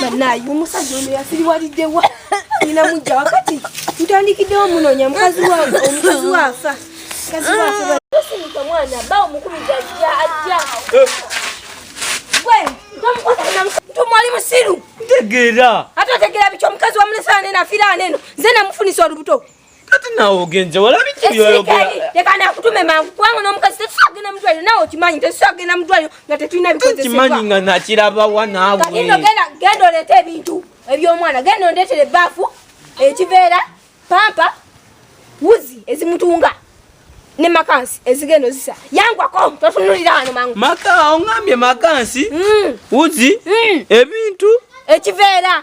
banaye omusajja ono yasiriwaliddewa nina mujja wakati ntandikiddewo munonya mukazi wange omukazi waafa mukazi waafa osimuka mwana ba omukumi gajja ajja eh. gwe ntomwali musiru ntegeera ate otegeera biki omukazi wamulesaaneno afiraaneno nze namufunisa olubuto Kati nawe ogenze walabi ki yoyogera. Leka na kutume mangu kwangu no mukazi tusagenda mutwaliro nawe okimanyi tusagenda mutwaliro nga tetulina bikozesebwa. Tukimanyi nga nakiraba wa nawe. Kati ino genda genda olete ebintu eby'omwana genda ondetere baafu ekiveera pampa wuzi ezimutunga ne makansi ezigenda ozisa yangwako totunulira wano mangu. Maka ongambye makansi mm. wuzi mm. ebintu ekiveera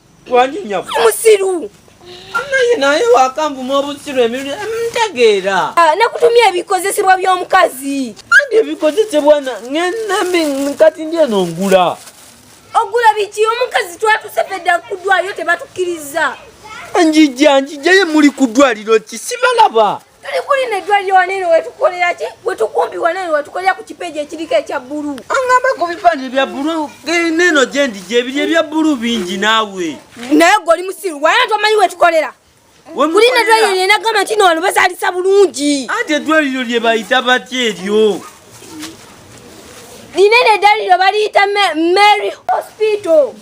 Wangi nyabo. Musiru. Naye naye wakambu mwobusiru emibiri mtegeera. Mm, ah, nakutumya ebikozesebwa by'omukazi. Andi ebikozesebwa na ngenambi nkati ndi eno ngula. Ogula biki omukazi twatuse fedda kudwayo tebatukiriza. Njija njija ye muli kudwaliro ki sibalaba. tuli kuli ne dwali wanene wetukolera ki wetukumbi wanene wetukolera ku kipeji ekiriko ekya bulu angamba ku bipande bya bulu neno gyendi gyebiri ebya bulu bingi naawe naye gwe oli musiru wayana tomanyi wetukolera kuli ne dwali wanene nagamba nti no wano bazalisa bulungi ate edwaliro lye bayita batya eryo linene edwaliro baliyita mary hospital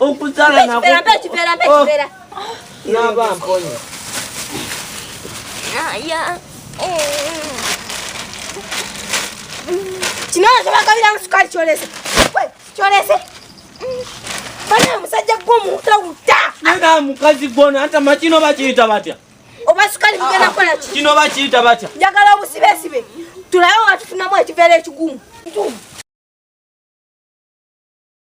Okuzala na kufera mpe kifera mpe kifera. Oh. Naba mponye. Ah, ya. Kino kyo bakabira musukali kyolese. Kwe kyolese. Bana musajja gwo muta uta. Nana mukazi gwo na hata makino bakiyita batya. Oba sukali mugenda ah, kola ki? Kino bakiyita batya. Njagala obusibe sibe. Tulayo watufunamu ekivera ekigumu. Tumu.